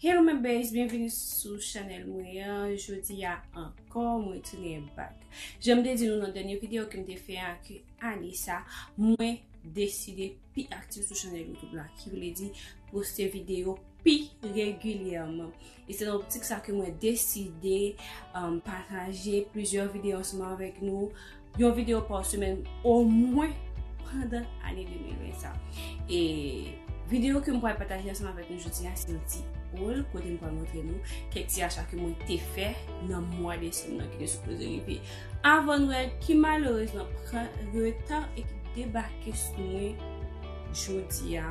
Hello my babes, byenvini sou chanèl mwen an, jodi a ankò mwen tounen bak Jan m te di nou nan dènye videyo ke m te fè a ke ane sa mwen deside pi aktif sou chanèl youtube la ki vle di poste videyo pi regilyèman E se nan optik sa ke mwen deside pataje plizyè videyo ansanm avèk nou, yon videyo pa semèn omwen pandan ane 2020 sa. E videyo ke mwen pral pataje ansanm avèk nou jodi a se yon ti haul kote mwen pral montre nou kèk ti acha ke mwen te fè nan mwa desanm nan ki te sipoze rive avan nwèl ki malerezman pran reta e ki debake sou mwen. jodi a,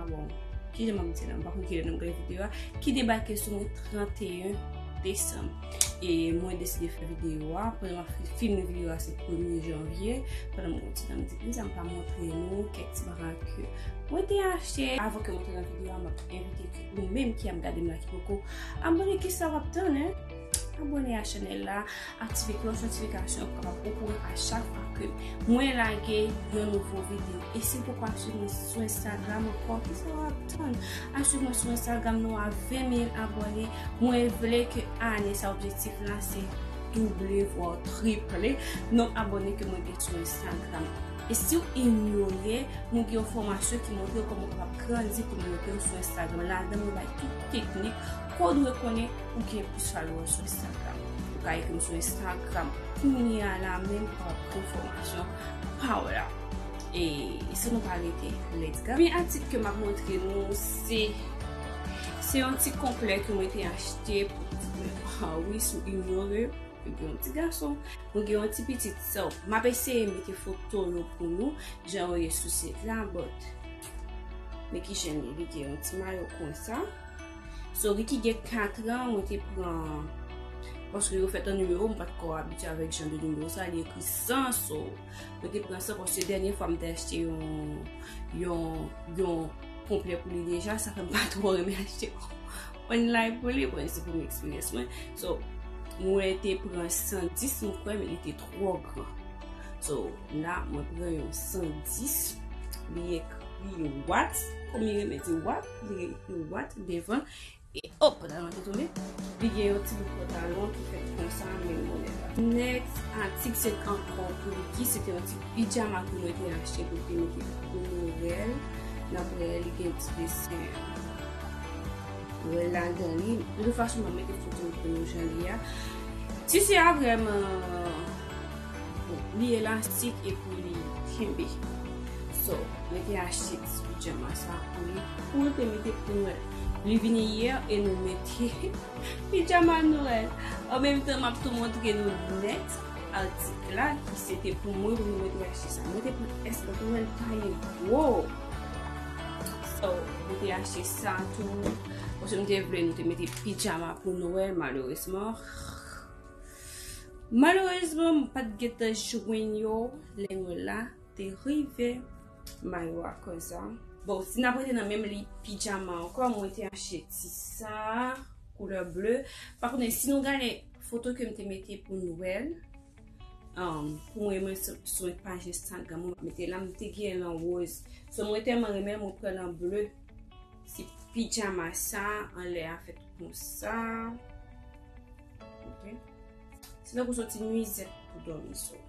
bon, ki lè mwen mwen ti la, mwen pa kon ki lè nan mwen gade videyo a, ki debake sou mwen 31 Desem. E mwen deside fè videyo a, pou mwen fè film videyo a se 1 Janvye, pou mwen mwen ti la, mwen di ki mwen pa mwen fè nou, kèk ti baran ki mwen te achte. Avon ke mwen te nan videyo a, mwen te evite ki mwen menm ki a mwen gade mwen la ki poko. Abone ki sa wap tan, he? Abone a chanel la. Aktive klòch notifikasyon pou kapab okouran a chak fwa ke mwen lage yon nouvo video. E si ou poko ap swiv mwen sou Instagram ankò, kisa w ap tann? Al swiv mwen sou Instagram nou a 20000 abòne. Mwen vle ke ane sa objektif la se double vwa triple nonb abòne ke mwen gen sou Instagram. E si ou inyore, mwen gen yon fòmasyon ki montre kòman ou kapab grandi kominote ou sou Instagram. Ladan mwen bay tout teknik ke w dwe konnen. Ou gen pou follow m sou Instagram. Ou ka ekri m sou Instagram kounya la menm pou w ap pran fòmasyon pa w la. E san nou pa rete, let's go! Premye atik ke m ap montre nou se se yon ti konplè ke mwen te achte pou pitit mwen. Ha wi, sou Inore, mwen gen yon ti gason, mwen gen yon ti pitit. So, m ap eseye mete foto yo pou nou jan yo ye sou sit la, but Men ki jen li, li gen yon ti mayo konsa. So, li ki gen 4 an, mwen te pran, paske yo fèt an nimewo, mwen pat kò abitye avèk jan de nimewo sa, li ekri 100, so, mwen te pran 100, paske dènye fwa mwen te achte yon, yon, yon konplè pou li deja, sa fèm pa twò renmen achte yon online pou li, bon, se premye eksperyans mwen, so, mwen te pran 110 mwen kwè, men li te 3. twò gran. So, la mwen pran yon 110, li ekri yon wat, kou mi reme di wat, li ekri yon wat devan, e hop, nan yon tout oube, li gen yon ti bout pantalon ki fèk kon sa, men yon bonè pa. Next, atik se t ankò pou Ricky, se te yon ti pijama kou mwen te achte pou Ricky, mwen te kou Noel, nan prè li gen ti desen. Wè ladan li, de tout fason mwen mete foto pou nou jan li a. Tisi a vreman, li elastik epi li kenbe. So, mwen te achte tisi pijama sa pou li. Pou mwen te mete pou mwen. Li vini yè e nou mete pijama Noel. An menm tan map tou montre nou net atik la ki se te pou mwen pou mwen te achte sa. Mwen te pou eskanp mwen ta yon gwo. So, mwen te achte sa tou. Mwen se mwen te vle nou te mete pijama pou Noël, maloresman. Maloresman, mwen pat gete jwen yo. Lè mwen la, te rive. Mayo a koza. Bon, si nan mwen te nan menm li pijama anko, mwen te achte ti sa. Koulè ble. Pa konen, si nou gane foto ke mwen te mete pou Noël. Pou mwen mwen sou yon paj Instagram mwen mete la mwen te gen lan rose. So mwen telman renmen mwen pran lan bleu. Si pijama sa anlè a fèt kon sa. Ok. Se nan pou sou ti nwizèt pou domi so.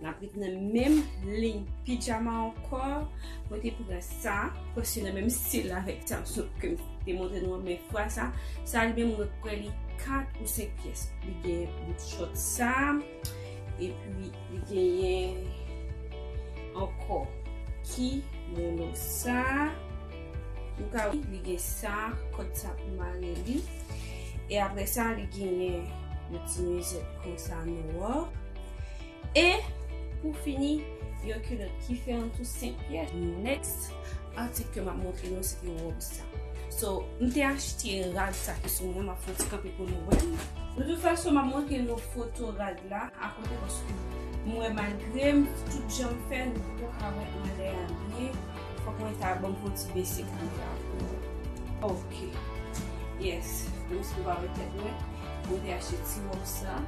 N ap ret nan menm liy pijama anko. Mwen te pran sa. Pwè se nan menm stil la vek sa sou kem. Te montre nou an men fwa sa. Sa li menm mwen pran li 4 ou 5 pyes. Li gen. Bout shot sa. E pi li genyen ankò ki mono sa. Ou ka wè li gen sa, kòd sa pou mare li. E apre sa li genyen yon ti mizèt konsa nò. E pou fini, yon kilòt ki fè an tou senp pyès. Next atik ke map montre nou se te wòb sa. So, m te achte rad sa ki sou mwen, map fè yon ti kanpe pou nou wè. De tout fason map montre nou foto rad la akote paske m wè malgre m tout jan m fè nou poko ka wè anlè a byen fòk mwen ta banm fon ti bese kamera a pou nou ok yes nou se pa wè tèt mwen m te achte ti wòb sa.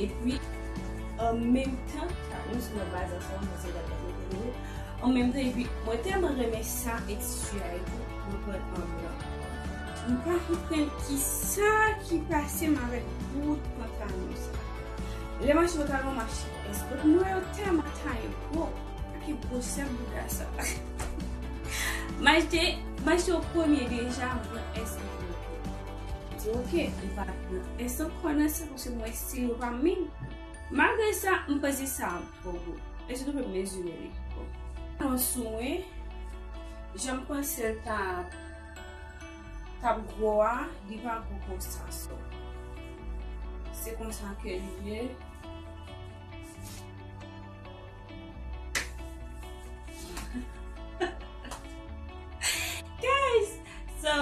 Epi, an menm tan, nou sou nan baz ansanm, mwen se Dada Delviro. An menm tan, epi, mwen tèlman renmen sa e tissu a etou, mwen pran l an blan. Nou pa konprann ki sa ki pase m avèk bout pantalon sa. Lè m achte pantalon, m achte pès. Bout mwen yo tèlman taye gwo, ak ki gwosè bouda sa. M achte, m achte yo premye deja, m pran S. Di ok, li pa t nan instant kònè sa paske m wè stil yo pa minm. Malgre sa, m peze sa a twò gwo. E sitou ke m mezire li pi gwo. Pran sou mwen, jan m panse l ta t ap gwo a, li pa gwo konsa. So, se konsa ke li ye. Guys So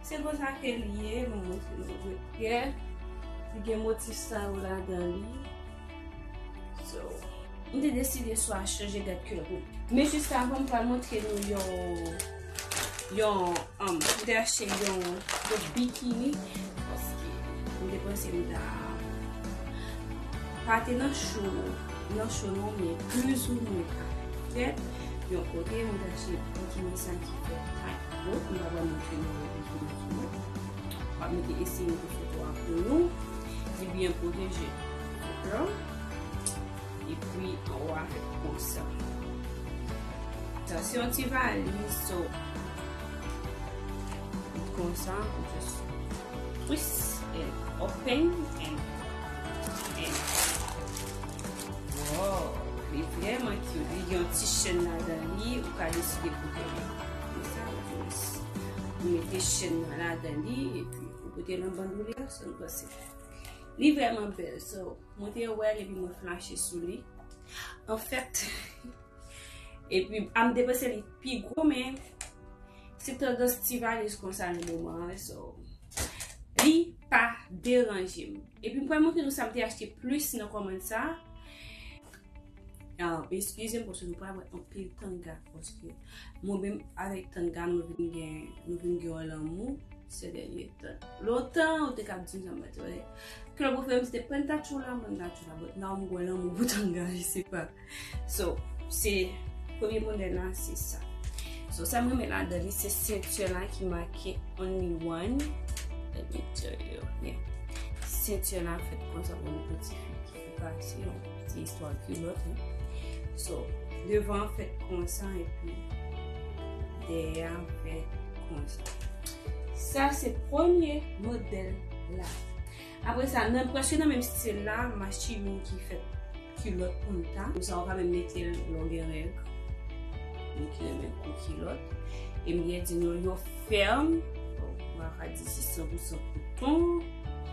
se konsa ke li ye Mwen mwen se nou vwe pye Li gen motif sa ou la dan li So Mwen te deside swa chanje dat kè pou Mwen jis ka avan mwen pral montre nou yon Yon um, m te achte yon bikini paske m te panse m ta pa te nan cho, nan cho non men plus ou mwen ka fèt yon kote m te achte bikini sa ki fè ak po, m pa pral montre nou yon bikini ki mwen. M ap mete eseye mete foto a pou nou. Li byen pwoteje. Dèkò? Epwi anwa fèt konsa. Tansyon ti valiz so. Li konsa ou just twist and open and and. Wow, li vreman cute. Li gen yon ti chèn ladan li, ou ka deside pou gen li. Konsa ou just mete chèn nan ladan li, epwi ou pote nan bandoulier, sa m panse. Li vreman bèl so. Mwen te wè l epi mwen flache sou li. An fèt, epi a m te panse li pi gwo men, se tandans ti valiz kon sa nan moman an so. Li pa deranje m. Epi m pral montre nou sa m te achte plis nan kòmand sa. Eskize m paske nou pral wè anpil tanga paske mwen menm avèk tanga nou vin gen nou vin gen yon lanmou sè dènye tan. Lontan ou te kab di m sa mwen te wè. Kè mwen fè m se te pentachoula mwen ta choula bòt nan mwen gwen lanmou pou tanga je se pa. So se premye modèl la se sa. So sa mwen men la dènye se sentye la ki make only one. Dènye tè yo. Sentye la fèt konsa pou mwen poti fi. Pati yon ti istwa kilòt wi. So, devan an fèt konsa epi dèyè an fèt konsa. Sa se premye modèl la. Apre sa, nan prèske nan menm stil la, m achte yon ki fèt kilòt pou m ta. Konsa ou ka menm mete l lè w gen règ. Moun ki renmen kou kilòt. E m gen di nou yo fèm. Bon, m pa ka di si san pou san kouton.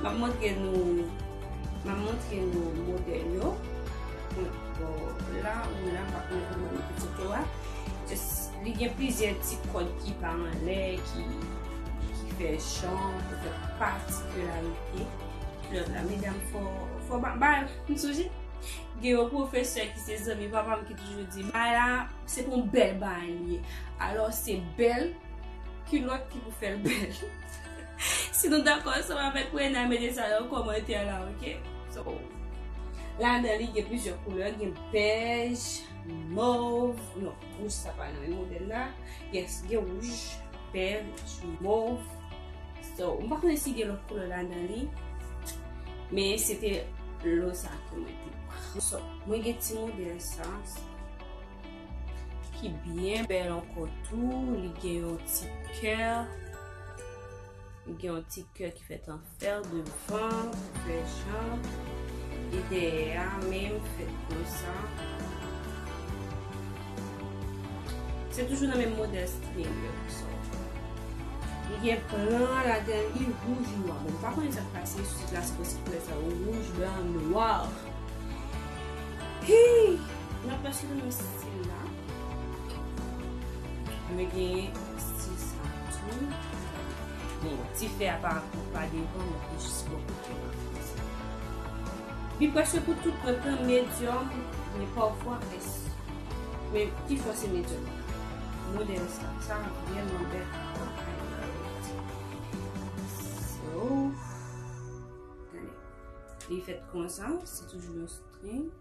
Map montre nou Map montre nou modèl yo Bon la ou la map montre nou modèl pitit yo a Li gen plizyè ti kòd ki pa anlè ki fè chan pou fè patikularite klèb la medam fò fò ba ba m sou je gen yon pwofesè ki se zanmi papa m ki toujou di ba la se pou m bèl ba li ye alò se bèl kilòt ki pou fè l bèl Si nou dakò ansanm avèk mwen nan mete sa nan kòmantè la ok. So ladan li gen plizyè koulè gen bèj, mov, non wouj sa pa nan menm modèl la, yes gen wouj, bèj, mov, so m pa konnen si gen lòt koulè ladan li men se te lò sa ke mwen te pran. So mwen gen ti modèl sa ki byen bèl ankò tou li gen yon ti kè. Li gen yon ti kè ki fèt an fèl devan, fè jan, e dèyè a menm fèt kon sa. Se toujou nan menm modèl string yo. Li gen plan la den li wouj nwa. Mwen pa konnen sa k pase sou sit la se pwosib koulè sa yo wouj, blan, nwa. Hii! Nan pwosib nou stil la. Mwen genyen stil sa tou. Bon, ti fè a pa pou pa devan, mwen pou jis pou kote la. Li preske pou tout mwen pran medium, men pa ou fwa pres. Men, ti fwa se medium. Mwen de yon sa, sa mwen gen mwen bè. So, gane. Li fèt kon sa, se toujou yon string.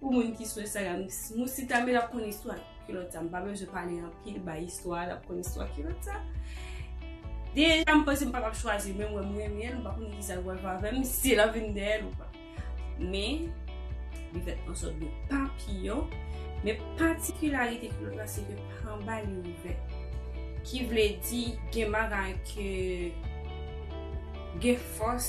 Pou moun ki sou Instagram, Moussi Tame l ap konn istwa kilòt sa. M pa bezwen pale anpil, bay istwa a, l ap konn istwa kilòt sa. Deja m panse m pa t ap chwazi l, men m wè m renmen l, m pa konnen ki sa l pral fè avè m, si l ap vin dèyè l ou pa. Men, li fèt an sòt de papiyon, men patikilarite kilòt la se ke pa anba li ouvè. Ki vle di gen bagay ke gen fòs.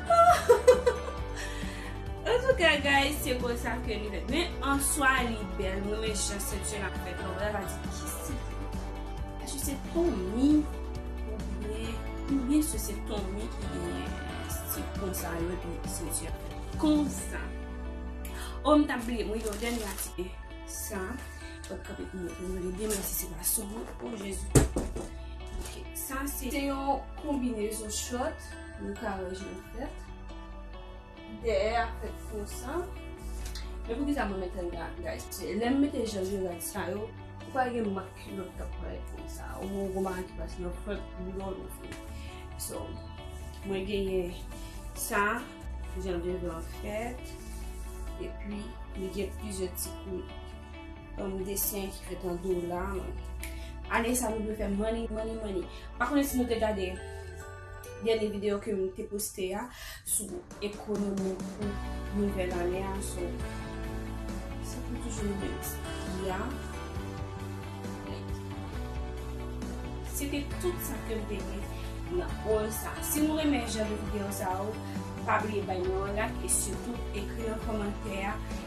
Antouka guys se konsa ke li fèt men answa li bèl mwen renmen jan senti an ap fèt lan mwen pa di ki senti eske se fomi oubyen oubyen se se fomi ki genyen senti konsa yo epi senti an fèt konsa o m ta bliye mwen gen yon dènye atik sa pot kapè pou mwen mwen li byen menm si se pa sou mwen o jezi ok sa se yon konbinezon chòt Nou ka wè jan l fèt. Dèyè a fèt konsa. Men poukisa mwen mete l la guys? Paske lè m mete jan Gerard sa yo, ou pa wè gen mak kilòt k ap parèt konsa. Ou wè yon bagay ki pase nan front boulon ou vre. So, mwen genyen sa, jan devan an fèt. Epi, li gen plizyè ti kout. Yon desen ki fèt an dola. Ane sa nou vle fè money, money, money. Pa konnen si nou te gade. Dènye video ke m te poste a sou ekonomi pou nouvèl ane a so se pou toujou nou menm ki a se te tout sa ke m te di nan ol sa si nou renmen jan de video sa ou pa bliye bay nou an lak e sitou ekri nan komantè a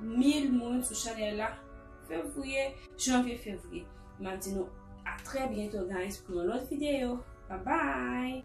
1000 moun sou chanel la fevriye janvye fevriye map di nou a trè byento guys pou yon lòt videyo bye bye